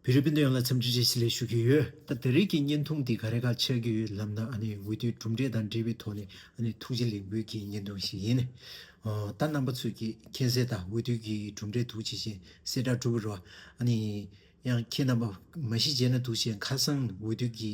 བོད་རིགས་སྤུན་ཟླ་ཡོངས་ལ་འཚམས་འདྲི་བྱེད་ཆེད་ལེགས་ཞུ་གི་ཡོད། ད་འདི་རིགས་ཀྱི་བརྙན་ཐུང་འདི་ག་རེ་ག་ཆགས་ཀྱི་ཡོད་ལབ་ན་འོས་བསྡུའི་གྲུབ་འབྲས་དང་འབྲེལ་བའི་ཐོག་ནས་ཐུགས་རྗེ་ལེགས་འབུལ་གྱི་བརྙན་ཐུང་ཞིག་ཡིན། ད་རྣམ་པ་ཚོས་ཀྱིས་མཁྱེན་གསལ་དང་འོས་བསྡུ་གི་གྲུབ་འབྲས་ཐུགས་རྗེ་ཅན་གསལ་བསྒྲགས་གྲུབ་པར་རོ། ཡང་ཁྱེད་རྣམ་པ་མ་གཞི་རྗེས་ན་འདུག་བྱས་ཁ་སང་འོས་བསྡུ་གི།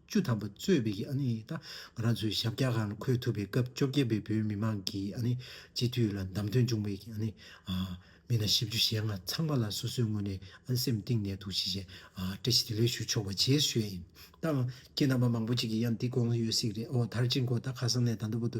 བཅུ་ཐམ་པ་གཙོས་པའི་ཨ་ནི་ད་ང་རང་ཚོའི་ཞབས་བཀྱག་ཁང་ལ་འཁོད་ཐུབ་པའི་སྐབས་བཅོ་བརྒྱད་པའི་བོད་མི་མང་གི་ཨ་ནི་སྤྱི་འཐུས་ལ་བདམས་ཐོན་བྱུང་བའི་ཨ་ནི་མི་སྣ་བཞི་བཅུ་ཞེ་ལྔ་ཚང་མ་ལ་སོ་སོའི་ངོས་ནས་ཨ་སེམས་གཏིང་ནས་ཐུགས་རྗེ་ཆེ་བཀྲ་ཤིས་བདེ་ལེགས་ཞུ་ཆོག་པ་བྱེད་བཞོད་ཨིན་ད་ཁྱེད་རྣམ་པ་མང་པོ་ཅིག་གི་ཡང་འདི་དགོངས་ཡོད་སིག་རེད་ཨོ་དར་ཅིག་མགོ་ད་ཁ་སང་ནས་ད་མདོ་བོ་དུ་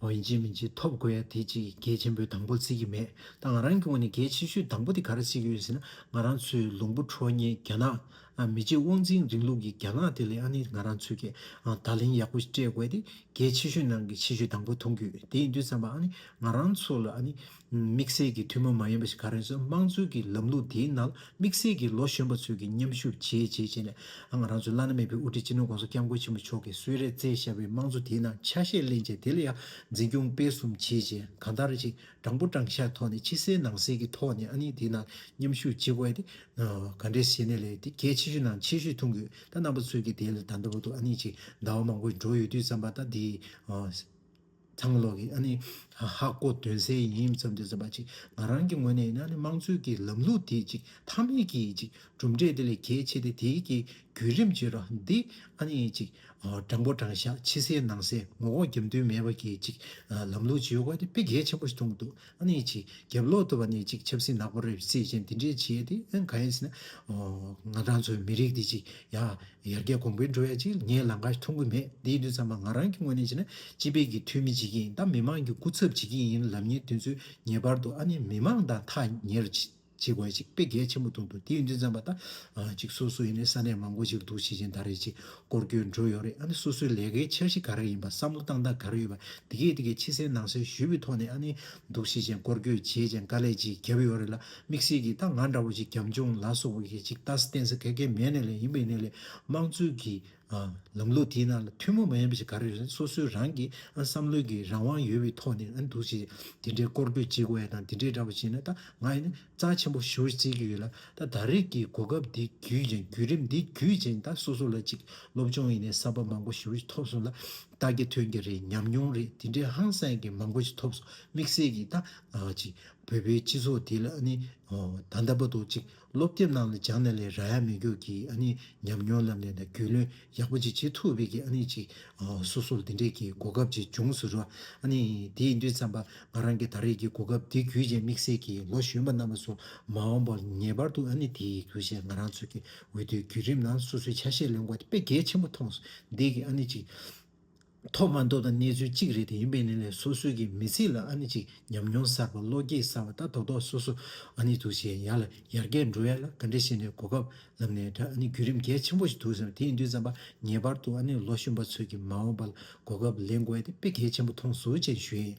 འོན་ཅི་མིན་ཅི་ཐོབ་དགོས་ཡ་དེ་ཅིག་གལ་ཆེན་པོའི་དང་པོ་རྩིས་ཀྱི་མེད་ད་ང་རང་སྐྱོང་བ་ནི་གལ་ཆེ་ཤོས་དང་པོ་དེ་ག་རེ་རྩིས་ཀྱི་ཡོད་ཟེར་ན་ང་རང་ཚོའི་ལུང་པོ་ཁྲོ་གཉེར་རྒྱ་ནག་མི་རྗེ་དབང་འཛིན་རིང་ལུགས་ཀྱི་རྒྱ་ནག་དེ་ལས་ཨ་ནི་ང་རང་ཚོས་ཀྱི་བརྡ་ལན་ཡག་པོ་སྤྲད་དགོས་ཏེ་གལ་ཆེ་ཤོས་ནང་གི་ཆེ་ཤོས་དང་པོ་མཐོང་རྒྱུ་དེ་ཡིན་དུས་བསམ་པ་ཨ་ནི་ང་རང་ཚོ་ལ་ཨ་ནི། དམིགས་བསལ་གྱི་ཐུན་མོང་མ་ཡིན་པ་ཞིག་ག་རེ་བཟོས་དམངས་གཙོའི་གི་ལམ་ལུགས་དེའི་ནང་དམིགས་བསལ་གྱི་ལོ་གཞོན་པ་ཚོས་གི་མཉམ་ཞུགས་བྱེད་བྱེད་བྱས་ནས་ང་རང་ཚོའི་བླ་ན་མེད་པའི་དབུ་ཁྲིད་སྤྱི་ནོར ྋགོང་ས ྋསྐྱབས་མགོན་ཆེན་པོ་མཆོག་གིས་གསོལ་རས་བསྩལ་བཞག་པའི་དམངས་གཙོ་དེའི་ནང་ཆ་ཤས་གླེང་བྱས་དེ་ལ་ཡང་འཛིན་སྐྱོང་སྤེལ་གསུམ་བྱེད་བྱེད་གང་ལྟར་ཅིག་དྲང་པོ་དྲང་བཞག་ཐོག་ནས་ཕྱི་གསལ་ནང་གསལ་གི་ཐོག་ནས་ཨ་ནི་དེའི་ནང་མཉམ་ཞུགས་བྱེད་དགོས་ཨ་དེ་ག་འདྲའི་བྱས་ནས་ལས་དེ་གལ་ཆེ་ཤོས་ནང་ཆེ་ཤོས་ཐུང་གི་ད་རྣམ་པ་ཚོས་གི་དེ་ལ་ད་འདའ་བོ་འདུག་ཨ་ནི་ཅིག་འདའ་བ་མང་པོ་འགྲོ་ཡོད་དུས་བསམ་པ་ད་དེའི་གྲང་གློག་གིས་ཨ་ནི་ཧ་ཧ་གོ་དོན་གསལ་ཡིན་བསམ་དུས་བསམ་པ་ཅིག་ང་རང་གི་ངོས་ནས་ཡིན་ན་ནི་དམངས་གཙོའི་གི་ལམ་ལུགས་དེ་ཅིག་མཐའ་མེད་གི་ཅིག་གྲུབ་འབྲས་དེ་ལས་གལ་ཆེ་སྟེ་དེའི་གི་བརྒྱུད་རིམ་བརྗེ་རོགས་འདི་ཨ་ནི་ཅིག་དྲང་པོ་དྲང་བཞག་ཕྱི་གསལ་ནང་གསལ་ངོ་ལྐོག་རྒྱབ་མདུན་མེད་པ་གི་ཅིག་ལམ་ལུགས་བརྗེ་ཡོད་དགོས་དེ་དཔེ་གལ་ཆེན་པོ་ཞིག་མཐོང་གི་འདུག། ཨ་ནི་ཅིག་རྒྱབ་ལོག་ཏུ་བ་ནི་ཅིག་ཆབ་སྲིད་ནག་པོ་རེད་བསྲེས་ཅན་འདི་འདྲས་བྱེད་དེ་ཨང་ག་ཨེ་སྲིད། ང་རང་ཚོའི་མི་རིགས་འདི་ཅིག་ཡ་ཡར་རྒྱལ་གོང་འཕེལ་འགྲོ་ཡ་ཅིག་ངས་ལང་ཀ་འཐུང་གི་མེད་འདིའི་དུས་མཚམས་ང་རང་གི་ངོས་ནས་བྱས་ན་སྤྱི་བེད་ཀྱི་འཐུས་མི་བྱེད་ཀྱི་ཡིན་ད་མི་མང་གི་སྐུ་ཚབ་བྱེད་ཀྱི་ཡིན་ལབ་ཉེ་དུས་ཚོད་ངེས་པར་དུ་ཨ་ནི་མི་མང་དང་ཐག་ཉེར་བྱེད། ཅིག་བར་ཅིག་དཔེ་གལ་ཆེན་པོ་མཐོང་འདུག་དེའི་མགྲིན་ཚན་པ་དང་ཅིག་སོ་སོ་ཡིན་ནའི་ས་གནས་མང་པོ་ཞིག་འདུག་ཤེས་ཀྱིན་ད་རེས་ཅིག་སྐོར་སྐྱོད་འགྲོ་ཡོད་རེད་ཨ་ནི་སོ་སོའི་ལས་ཀའི་འཆར་གཞི་ག་རེ་ཡིན་པ་བསམ་བློ་བཏང་སྟངས་ག་རེ་ཡོད་པ་འདི་གས་འདི་གས་ཕྱི་གསལ་ནང་གསལ་ཞུས་པའི་ཐོག་ནས་ཨ་ནི་འདུག་ཤེས་ཀྱིན་སྐོར་སྐྱོད་བྱས་ཀྱིན་དཀའ་ལས་ཅིག་བརྒྱབ་ཡོད་རེད་ལ་དམིགས་བསལ་གྱིས་ད་ང་འདྲ་བོ་ཞིག་རྒྱབ་ལྗོངས་ལ་སོགས་པ་ཞིག་གིས་ཅིག་ལྟ་ས་བསྟན་ས་ག་གེ་མེད་ནས་ལས་ཡིན་པའི་གནས་ལས་དམངས་གཙོའི་གིས། ལམ་ལུགས་དེའི་ནང་ལ་ཐུན་མོང་མ་ཡིན་པ་ཞིག་ག་རེ་རེད་སོ་སོའི་རང་གི་བསམ་བློའི་གི་རང་དབང་ཡོད་པའི་ཐོག་ནས་འདུག་ཅེས་དེ་འདྲའི་སྐོར་སྐྱོད་བྱེད་དགོས་ཡ་དང་དེ་འདྲའི་འདྲ་པོ་བྱས་ན་ད་ང་ཡིན་ན་རྩ་ཆེན་པོ་ཞུ་རྩིས་ཀྱི་ཡོད་ལ་ད་ད་རེས་ཀྱི་གོ་སྐབས་འདི་བརྒྱུད་ཅིང་བརྒྱུད་རིམ་འདི་བརྒྱུད་ཅིང་ད་སོ་སོ་ལ་ཅིག་སློབ་སྦྱོང་ཡིན་ནའི་གསར་པ་མང་པོ་ཞུ་རིགས་ཐོབ་སོང་ལ་ད་གི་ཐོན་གྱི་རེད་ཉམས་མྱོང་རེད་དེ་འདྲའི་ཧང་སངས་ཀྱི་མང་པོ་ཅིག་ཐོབ་སོང་དམིགས་བསལ་གྱིས་ད་ང་ཅིག་བོད་པའི་སྤྱི་ཚོགས་འདི་ལ་ནི་ད་ད་པ་དོ་ཅིག་སློབ་དེབ་ནང་ལ་སྦྱངས་ནས་ལས་ར་ཡག་མི་རྒྱུག་གི་ཨ་ནི་ཉམས་མྱོང་བསླབ་ནས་ན་རྒྱུས་ལོན་ཡག་པོ་ཅིག་བྱེད་ཐུབ་བས་ཀྱི་ཨ་ནི་ཅིག་སོ་སོར་འདི་འདྲས་ཀྱི་གོ་སྐབས་ཅིག་འབྱུང་ཟུར་རོ་ཨ་ནི་དེའི་དུས་བརྩམས་པ་ང་རང་གི་ད་རེས་ཀྱི་གོ་སྐབས་འདི་རྒྱུད་ཆེན་དམིགས་བསལ་གྱི་ལོ་གཞོན་པ་རྣམས་པ་སོ་མ་འོངས་པར་ངེས་པར་དུ་ཨ་ནི་དེའི་གུས་ཞེས་ང་རང་ཚོ་གི་འོས་བསྡུའི་བརྒྱུད་རིམ་ནང་སོ་སོའི་ཆ་ཤས་ལོན་དགོས་དེ་དཔེ་གལ་ཆེན་པོ་མཐོང་ཟུར་འདས་ཀྱི་ཨ་ནི་ཅིག་ཐོག་མར་མདོ་དང་གནས་ཚུལ་གཅིག་རེད་དེ་ཡིན་པའི་ནི་ལས་སོ་སོའི་གི་མི་ཚིག་ལ་ཨ་ནི་ཅིག་ཉམས་མྱོང་གསར་བ་བློ་སྐྱེད་གསར་བ་ལྟ་རྡོག་རྡོག་སོ་སོ་ཨ་ནི་འདུག་བྱས་ཡ་ལ་ཡར་རྒྱས་འགྲོ་ཡ་ལ་ག་འདྲ་བྱས་ནས་གོ་སྐབས་ལབ་ནས་འདྲ་ཨ་ནི་བརྒྱུད་རིམ་གལ་ཆེན་པོ་ཞིག་འདུག་ཟེར་བ་དེ་ཡིན་དུས་བརྩམས་པ་ངེས་པར་དུ་ཨ་ནི་ལོ་གཞོན་པ་ཚོས་གི་མ་འོངས་པ་ལ་གོ་སྐབས་ལེན་དགོས་ཡ་དེ་དཔེ་གལ་ཆེན་པོ་མཐོང་ཟུར་ཅན་ཞུས།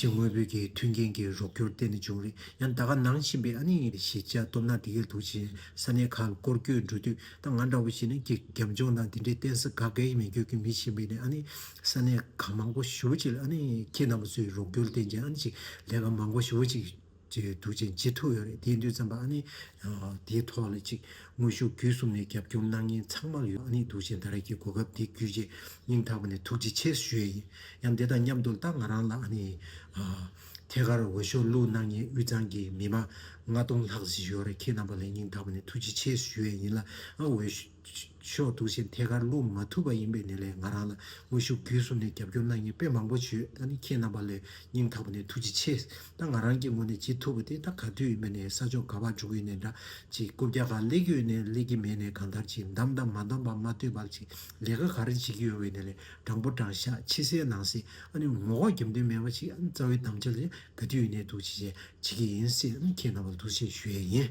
ཕྱི་དངོས་པོའི་གི་མཐུན་རྐྱེན་གྱི་རོགས་སྐྱོར་གཏན་ནས་བྱུང་རིགས་ཡང་ད་ག་ནང་ཕྱིན་པའི་ཨ་ནི་ཞེས་བྱ་སྟོབས་ནག་འདི་གས་དུག་ཅིང་ས་ནས་ཁ་བསྐོར་སྐྱོད་འགྲོ་དུས་ད་ང་འདྲ་བོ་ཞིག་ནི་གི་རྒྱབ་ལྗོངས་དང་དེ་འདྲའི་བརྟེན་ས་ག་གས་མི་འགྱོད་ཀི་མི་ཕྱིན་པས་ནི་ཨ་ནི་ས་ནས་ཁ་མང་པོ་ཞུ་བ་ཅིག་ལ་ཨ་ནི་ཁྱེད་རྣམ་པ་ཚོའི་རོགས་སྐྱོར་རྟེན་ཅིང་ཨ་ནི་ཅིག་ལས་ཀ་མང་པོ་ཞུ་བ་ཅིག། ཅེས་འདུག་ཅིང་ཅི་ཐུབ་ཡོད་རེད་དེའི་མདུན་ཙམ་པ་ཨ་ནི། དེའི་ཐོག་ལ་ཅིག་དངོས་ཤུགས་བརྒྱུད་གསུམ་ནས་རྒྱབ་སྐྱོར་གནང་མཁན་ཚང་མར་ཡོད་ཨ་ནི་འདུག་ཅིང་ད་རེས་ཀྱི་གོ་སྐབས་འདི་བརྒྱུད་ཆེས་སྙིང་ཐག་པ་ནས་ཐུགས་རྗེ་ཆེ་ཞུ་ཡས་ཡིན་ཡང་དེ་དང་མཉམ་དུ་ལྟ་ང་རང་ལ་ཨ་ནི། ཐད་ཀར་འོས་ཤོག་བླུགས་གནང་མཁན་དབུས་གཙང་གི་མི་མང་ལྔ་སྟོང་ལྷག་ཞིག་ཡོད་རེད་ཁྱེད་རྣམ་པ་ལ་སྙིང་ཐག་པ་ནས་ཐུགས་རྗེ་ཆེ་ཞུ་ཡས་ཡིན་ལ་ཨ་འོས་ཕྱོགས་གཏུགས་ཆེན་ཐད་ཀར་བསླུ་མ་ཐུབ་པ་ཡིན་པའི་ནི་ལས་ང་རང་ལ་དངོས་ཤུགས་བརྒྱུད་གསུམ་ནས་རྒྱབ་སྐྱོར་གནང་མཁན་དཔེ་མང་པོ་བྱོས་ད་ནི་ཁྱེད་རྣམ་པ་ལས་སྙིང་ཐག་པ་ནས་ཐུགས་རྗེ་ཆེ་ད་ང་རང་གི་ངོ་ནས་བྱེད་ཐུབ་པ་དེ་ད་ག་དུས་ཡིན་པ་ནས་ས་ཕྱོགས་ག་བར་འགྲོ་གི་ཡོད་ནས་འདྲ་ཅིག་རྐུབ་བཀྱག་ག་ལེགས་ཀྱི་ཡོད་ནས་ལེགས་ཀྱི་མེད་ནས་གང་ལྟར་ཅིག་འདམ་འདམ་མ་འདམ་བག་མ་སྟོད་བག་ཅིག་ལས་ཀ་ག་རེ་བྱེད་ཀྱི་ཡོད་བའི་ནི་ལས་དྲང་པོ་དྲང་ཤག་ཕྱི་གསལ་ནང་གསལ་ཨ་ནི་ངོ་ལྐོག་རྒྱབ་མདུན་མེད་པ་ཅིག་ཨ་ནི་རྩ་བའི་དམ་བཅའ་ལ་ཡང་ག་དུས་ཡོད་ནས་འདུག་ཅིག་བྱེད་ཀྱི་ཡིན་སྲིད་ཨ་ནི་ཁྱེད་རྣམ་པ་ལ་ཐུགས་ཆེ་ཞུ་ཡས་ཡིན།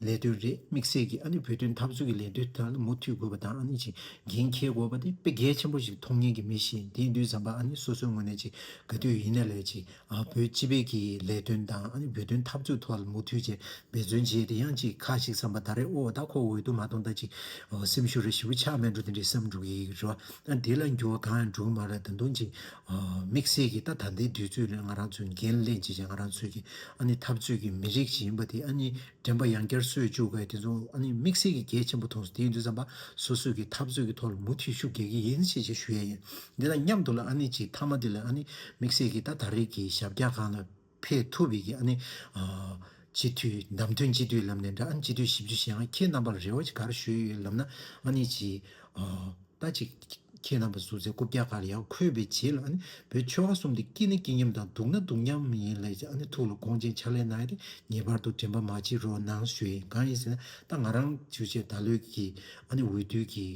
ལས་དོན་རེད་དམིགས་བསལ་གྱིས་ཨ་ནི་བོད་དོན་འཐབ་རྩོད་ཀྱི་ལས་དོན་དེ་དག་ལ་མུ་མཐུད་དགོས་པ་དང་ཨ་ནི་ཅིག་འགན་འཁྱེར་དགོས་པ་དེ་དཔེ་གལ་ཆེན་པོ་ཞིག་མཐོང་ཉན་གྱི་མི་ཞིག་དེ་དུས་བཟང་པ་ཨ་ནི་སོ་སོའི་ངོས་ནས་ཅིག་དགའ་དུས་ཡིན་ན་ལས་ཅིག་ཨ་བོད་སྤྱི་བེད་ཀྱི་ལས་དོན་དང་ཨ་ནི་བོད་དོན་འཐབ་རྩོད་ཐོག་ལ་མུ་མཐུད་ཅིག་འབད་བརྩོན་བྱས་དེ་ཡང་ཅིག་ཁ་ཞིག་བསམ་པ་ད་རེས་ཨོ་ད་ཁོ་འོས་བསྡུ་མ་གཏོང་ད་ཅིག་སེམས་ཤུགས་རེ་ཞི་བུ་ཆགས་མེད་འགྲོ་དེ་འདྲའི་བསམ་འགྲུབ་ཀྱི་རེད་བ་ཨ་ནི་དེ་ལ་འགྱུར་བ་གང་ཡང་འགྲོ་གི་མ་རེད་ད་དུང་ཅིག་དམིགས་བསལ་གྱིས་ད་ད་ལྟའི་དུས་ཚོད་ལས་ང་རང་ཚོས་འགན་ལེན་བྱེད་བྱེད་ང་རང་ཚོའི་ཨ་ནི་འཐབ་རྩོད་ཀྱི་མི་རིགས་ཤིག་ཡིན་པ་དེ་ཨ་ནི་དྲན་པ་ཡང་བསྐྱར་གསོས་བཅུག་གས་དེ་ཚོ་ཨ་ནི་དམིགས་བསལ་གྱིས་གལ་ཆེན་པོ་མཐོང་སོང་དེའི་དུས་བསམ་པ་སོ་སོས་ཀྱི་འཐབ་རྩོད་ཀྱི་ཐོག་ལ་མུ་མཐུད་ཤུགས་རྒྱག་གི་ཡིན་ཞེས་ཞུ་ཡས་ཡིན་འདི་དང་མཉམ་དུ་ལ་ཨ་ནི་ཅིག་མཐའ་མ་དེ་ལ་ཨ་ནི་དམིགས་བསལ་གྱིས་ད་ད་རིགས་ཀྱི་ཞབས་བཀྱག་གང་ལ། འཕེལ་ཐུབ་བས་ཀྱི་ཨ་ནི། སྤྱི་འཐུས་བདམས་ཐོན་སྤྱི་འཐུས་ལམ་ནས་འདྲ་ཨ་ནི་སྤྱི་འཐུས་ཞིབ་འཇུག་བྱེད་ཡང་ཁྱེད་རྣམ་པར་རེ་བ་ཅིག་གར་ཞུས་ཡོད་ལབ་ན་ཨ་ནི་ཅི། ད་ཅིག། ཁྱེད་རྣམ་པ་བཟུར་ཚེ་རྐུབ་བཀྱག་གར་ཡག་འཁོད་པའི་རྗེས་ལ་ཨ་ནི་བོད་ཆོལ་ཁ་གསུམ་དེ་སྐྱིད་ན་སྐྱིད་མཉམ་དང་སྡུག་ན་སྡུག་མཉམ་ཡིན་ལས་ཀྱི་ཨ་ནི་ཐུགས་ལ་དགོངས་ཅན་ཕྱག་ལས་གནང་ཡ་དེ་ངེས་པར་དུ་དྲན་པ་མ་བགྱིད་རོགས་གནང་ཞུ་ཡིན་གང་ཡིན་ཟེར་ན་ད་ང་རང་ཆུ་ཆེད་ད་ལོའི་ཀྱི་ཨ་ནི་འོས་བསྡུ་གྱི་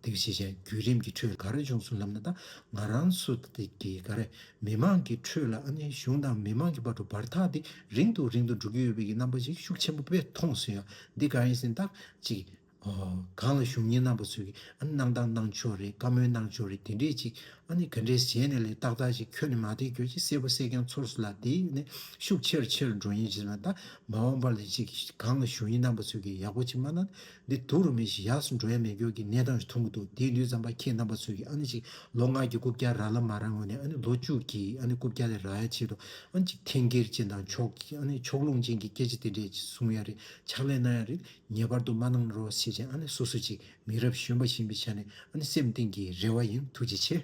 དེ་བྱེད་བྱེད་བརྒྱུད་རིམ་གྱི་ཁྲོད་ག་རེ་འབྱུང་སོང་ལབ་ན་ད་ང་རང་སུ་ཏེ་གི་ག་རེ་མི་མང་གི་ཁྲོད་ལ་ཨ་ནེ་གཞུང་དང་མི་མང་གི་བར་དུ་བར་ཐག་དེ་རིང་དུ་རིང་དུ་འགྲོ་གི་ཡོད་པའི་རྣམ་པ་ཞིག་ཤུགས་ཆེན་པོ་བས་མཐོང་སོང་ཡང་འདི་ག་ཡིན་ཟིན་ཐག་ཅིག་གང་ལ་གཞུང་གཉེར་རྣམ་པ་ཚོས་ཨ་ནེ་གནང་སྟངས་གནང་ཕྱོགས་རེད་བཀའ་མོལ་གནང་ཕྱོགས་རེད་དེ་འདྲས་ཅིག་ཨ་ནེ་ག་འདྲས་གཞན་ནས་ལས་ཏག་ཏག་ཅིག་ཁྱོན་ནས་མ་བལྟས་ཁྱོད་ཀྱིས་གསལ་པོ་གསལ་རྐྱང་ཚོར་སོང་ལ་དེ་ནས་ཤུགས་ཆེར་ཆེར་འགྲོ་ཉེན་ཅིག་ལ་འདའ་མ་འོངས་པར་ལས་ཅིག་གང་ལ་གཞུང་ཡིན་རྣམ་པ་ཚོས་ཀྱིས་ཡག་པོ་ཅིག་མ་གནང་ན་འདི་དུག་རུ་མི་ཞིག་ཡག་སུ་འགྲོ་ཡ་མེད་སྐྱོར་གྱི་གནས་སྟངས་ཞིག་མཐོང་གི་འདུག་དེའི་ལུས་རྩམ་པ་ཁྱེད་རྣམ་པ་ཚོས་ཀྱི་ཨ་ནི་ཅིག་ལོ་ལྔ་གྱི་རྐུབ་བཀྱག་ར་ལ་མ་ར་ངོ་ནས་ཨ་ནི་ལོ་བཅུ་གྱི་ཨ་ནི་རྐུབ་བཀྱག་ལས་རག་ཡ་ཆེད་དུ་ཨ་ནི་ཅིག་འཐེན་འཁྱེར་ཅན་དང་ཕྱོགས་ཀྱི་ཨ་ནི་ཕྱོགས་ལྷུང་ཅན་གྱི་སྐད་ཆ་དེ་འདྲས་ཅིག་གསུང་ཡ་རེད་ཕྱག་ལས་གནང་ཡ་རེད་ངེས་པར་དུ་མ་གནང་རོགས་ཞེས་བྱས་ཨ་ནི་སོ་སོ་ཅིག་མི་རབས་གཞོན་པ་བཞིན་པའི་ཆ་ནས་ཨ་ནི་སེམས་གཏིང་གི་རེ་བ་ཡིན་ཐུགས་རྗེ་ཆེ།